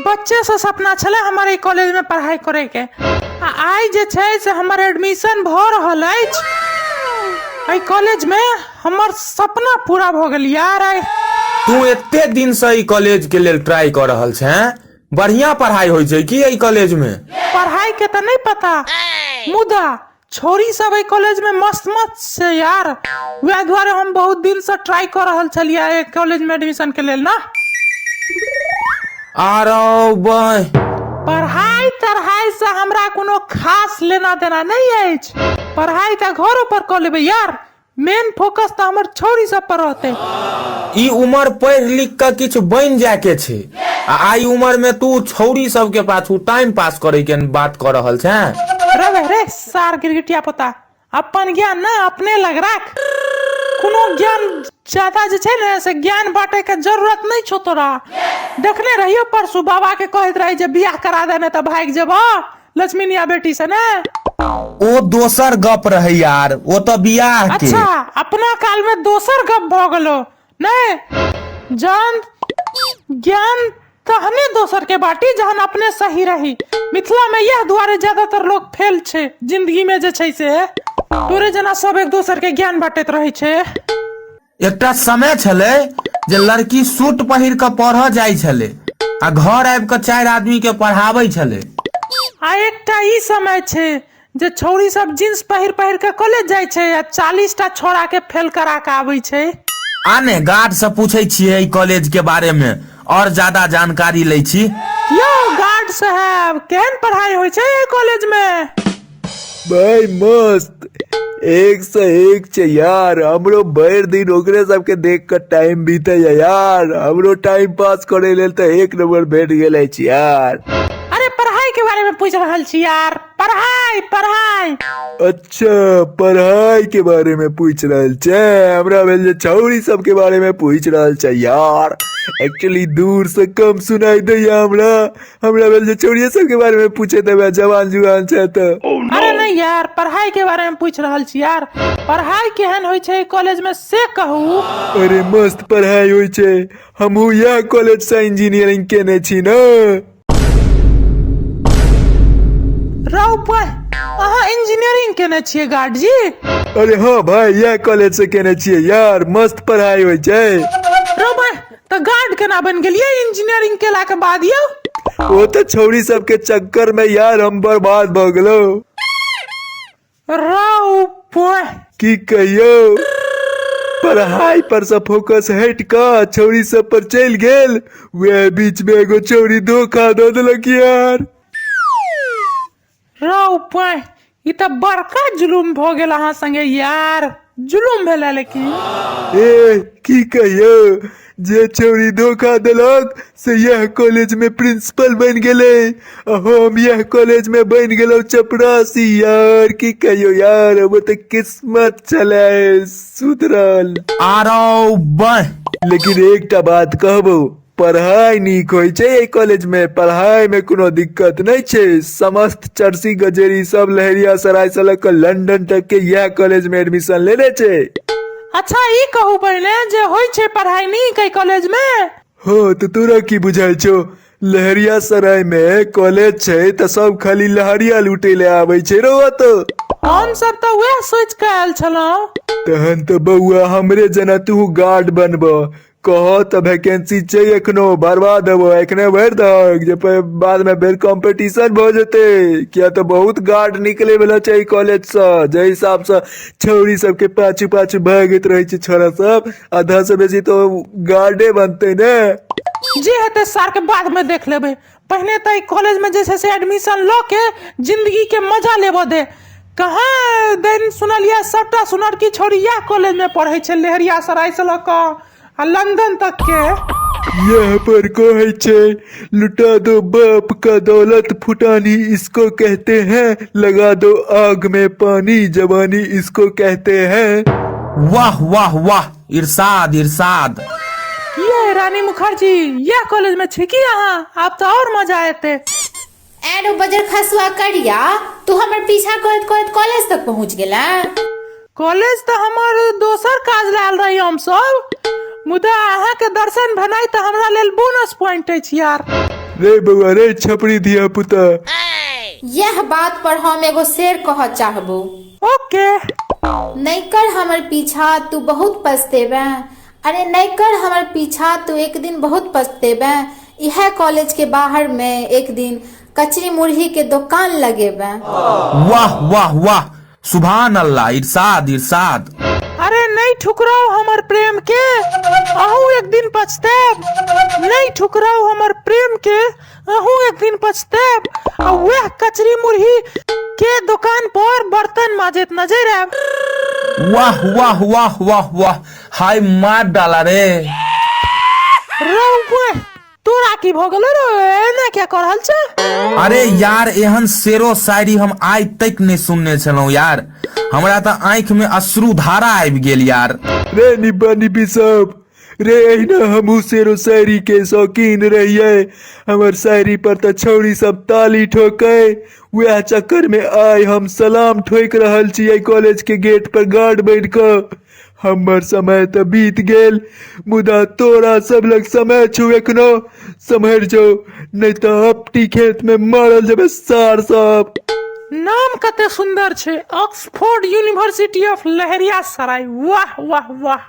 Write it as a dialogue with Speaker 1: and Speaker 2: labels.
Speaker 1: बच्चेसँ सपना छलै हमर ई कॉलेजमे पढ़ाइ करैके आ आइ जे छै से हमर एडमिशन भऽ रहल अछि एहि कॉलेजमे हमर सपना पूरा भऽ गेल यार आइ तू एते
Speaker 2: दिन से ई कॉलेज के लेल ट्राई कर रहल छे बढ़िया पढ़ाई होइ छै की एहि कॉलेज में पढ़ाइके तऽ
Speaker 1: नहि पता मुदा छोरी सब एहि कॉलेज में मस्त मस्त छै यार वएह दुआरे हम बहुत दिन से ट्राई कर रहल छलियै एहि कॉलेज में एडमिशन के लेल ना
Speaker 2: आरो बह पढ़ाई
Speaker 1: तढ़ाई से हमरा कोनो खास लेना देना नहीं अछि पढ़ाई तऽ घरो पर कऽ लेबै यार मेन फोकस तऽ हमर छौरी सब पर रहते ई उम्र
Speaker 2: पढ़ि लिख कऽ किछु बनि जाय के छै आ आइ उम्र में तू छौरी सब के पाछू टाइम पास करे के बात कर रहल छै रे बे रे
Speaker 1: सार गिरगिटिया पोता अपन ज्ञान ने अपने लग राख कोनो ज्ञान ज्यादा जे छै ने से ज्ञान बाँटे के जरूरत नहि छौ तोरा देखने रहियो परसू बाबा के कहैत रही जे बियाह करा दे नहि तऽ भागि जेबह लक्ष्मीनिया बेटी से ने ओ
Speaker 2: दोसर गप रहे यार ओ तो बियाह के अच्छा अपना
Speaker 1: काल में दोसर गप भ गेलो नहीं जान ज्ञान तहने दोसर के बाटी जहन अपने सही रही मिथिला में यह दुआरे ज्यादातर लोग फेल छे जिंदगी में जे छै से तोरे जना सब एक दोसर के ज्ञान बांटैत रहै छै एकटा
Speaker 2: समय छलै जे लड़की सूट पहिर कऽ पढ़ऽ जाइ छलै आ घर आबि कऽ चारि आदमी के पढ़ाबै छलै आ
Speaker 1: एकटा ई समय छै जे छौरी सब जींस पहिर पहिर के कॉलेज जाइ छै आ चालीस टा छोरा के फेल करा के आबै छै आने गार्ड
Speaker 2: से पूछै छियै एहि कॉलेज के बारे मे और ज्यादा जानकारी लै छी यौ गार्ड
Speaker 1: साहब केहन पढ़ाई होइ छै एहि कॉलेज में भाई
Speaker 3: मस्त एक से एक छे यार हमरो भर दिन ओकरे सबके देख कर टाइम बीते या यार हमरो टाइम पास करे लेल तो एक नंबर भेट गेले छी यार अरे पढ़ाई
Speaker 1: के बारे में पूछ रहल छी यार पढ़ाई पढ़ाई अच्छा
Speaker 3: पढ़ाई के बारे में पूछ रहल छे हमरा भेल जे छौरी सब के बारे में पूछ रहल छे यार एक्चुअली दूर से कम सुनाई दैया हमरा हमरा भेल जे चोरिये सब के बारे में पूछे देबे जवान जुआन छै तऽ अरे नहीं यार
Speaker 1: पढ़ाई के बारे में पूछ रहल छी यार पढ़ाई केहन होइ छै कॉलेज में से कहू अरे मस्त
Speaker 3: पढ़ाई होइ छै हमहू यह कॉलेज से इंजीनियरिंग केने छी ने
Speaker 1: रौ भाई अहाँ इंजीनियरिंग केने छियै गार्ड जी अरे हाँ
Speaker 3: भाई यह कॉलेज से केने छियै यार मस्त पढ़ाई होइ छै रौ भाई
Speaker 1: तऽ गार्ड केना बनि गेलियै इंजीनियरिंग केलाके बाद यौ ओ तऽ
Speaker 3: छौरी सबके चक्कर में यार हम बर्बाद भऽ गेलो
Speaker 1: रौ पोय की कहियो
Speaker 3: पढ़ाई पर से फोकस हट क छौरी सब पर चल गेल वह बीच में एगो छौरी धोखा दऽ देलक यार
Speaker 1: रौ पाय ई तऽ बड़का जुलुम भऽ गेल अहाँ संगे यार जुलुम भेला लेकिन ए
Speaker 3: की कहियो जे चोरी धोखा देलक से यह कॉलेज में प्रिंसिपल बन गेले आ हम यह कॉलेज में बन गेलो चपरासी यार की कहियो यार अब तो किस्मत चले सुधरल आरो
Speaker 2: बह लेकिन एकटा
Speaker 3: बात कहबो पढ़ाइ नीक होइ छै एहि कॉलेज मे पढ़ाई मे कोनो दिक्कत नहि छै समस्त चर्सी गजेरी सब लहेरिया सराय स ल क लंडन तक के इएह कॉलेज में एडमिशन लेने छै अच्छा ई
Speaker 1: कहू पहिने जे होइ छै पढ़ाइ नीक एहि कॉलेज मे हँ तऽ तोरा
Speaker 3: की बुझाइ छौ लहरिया सराय मे कॉलेज छै तऽ सब खाली लहरिया लूटे ले आबै छै रौ ओतऽ हम सब तऽ
Speaker 1: उएह सोचि कऽ आयल छलहुँ तहन तऽ
Speaker 3: बौआ हमरे जेना तू गार्ड बनबऽ कह तऽ वैकेंसी छै एखनो भरबा देबो एखने भरि दहक जे फेर बादमे फेर कॉम्पिटिशन भऽ जेतै किया तऽ बहुत गार्ड निकलै वला छै एहि कॉलेजसँ जाहि हिसाबसँ छौरी सबके पाछू पाछू भागैत रहै छै छौड़ा सब आधासँ बेसी तऽ गार्डे बनतै ने जे हेतै
Speaker 1: सारके बादमे देख लेबै पहिने तऽ एहि कॉलेजमे जे छै से एडमिशन लऽ के जिन्दगीके मजा लेबऽ दे कहाँ दिन सुनलियै सभटा सुनरकी छौड़ी इएह कॉलेजमे पढ़ै छै लहरिया सरायसँ लऽ कऽ आ लंदन तकके यहाँ
Speaker 3: पर कहे छे लुटा दो बाप का दौलत फुटानी इसको कहते हैं लगा दो आग में पानी जवानी इसको कहते हैं वाह वाह वाह
Speaker 2: इरशाद इरशाद की है
Speaker 1: रानी मुखर्जी यह कॉलेज में छी की अहाँ आब तऽ और मजा एते एरो
Speaker 4: बजर खसुआ करिया तू हमर पीछा करत करत कॉलेज तक पहुंच गेला कॉलेज
Speaker 1: तऽ हमर दोसर काज लए आयल रही हम सब मुदा अहाँ के दर्शन भेनाइ तऽ हमरा लेल बोनस पॉइंट अछि यार रे
Speaker 3: बउआ रे छपरी धिया पुता यह
Speaker 4: बात पर हम एगो शेर कहऽ चाहबो ओके
Speaker 1: नहि
Speaker 4: कर हमर पीछा तू बहुत पछतेबे अरे नहि कर हमर पीछा तू एक दिन बहुत पछतेबे इहे कॉलेज के बाहर में एक दिन कचरी मुरही के दुकान लगेबे वाह
Speaker 2: वाह वाह सुभान अल्लाह इरशाद इरशाद अरे नहीं
Speaker 1: ठुकराओ हमर प्रेम के अहू एक दिन पछताब नहीं ठुकराओ हमर प्रेम के अहूँ एक दिन पछतायब आ वह कचरी मुरही के दुकान पर बर्तन माजत नजर आयब वाह
Speaker 2: वाह वाह वाह वाह हाय मार डाला रे रौवे
Speaker 1: तोरा की भऽ गेलो रे एना क्या कर रहल छै अरे यार
Speaker 2: एहन शेरो शायरी हम आइ तक नहि सुनने छलहुँ यार हमरा तऽ आँखि में अश्रु धारा आबि गेल यार रे निब्बा
Speaker 3: निब्बी सब रे अहिना हमहू शेरो शायरी के शौकीन रहिए हमर शायरी पर तऽ छौरी सब ताली ठोके वएह चक्कर में आइ हम सलाम ठोक रहल छियै कॉलेज के गेट पर गार्ड बैठ कऽ हमर समय तऽ बीत गेल मुदा तोरा सब लग समय छौ एखनो सम्हर जो नहि तऽ अपटी खेत में मारल जेबे सार सब नाम
Speaker 1: कते सुंदर छै Oxford university of Lahariya Sarai वाह वाह वाह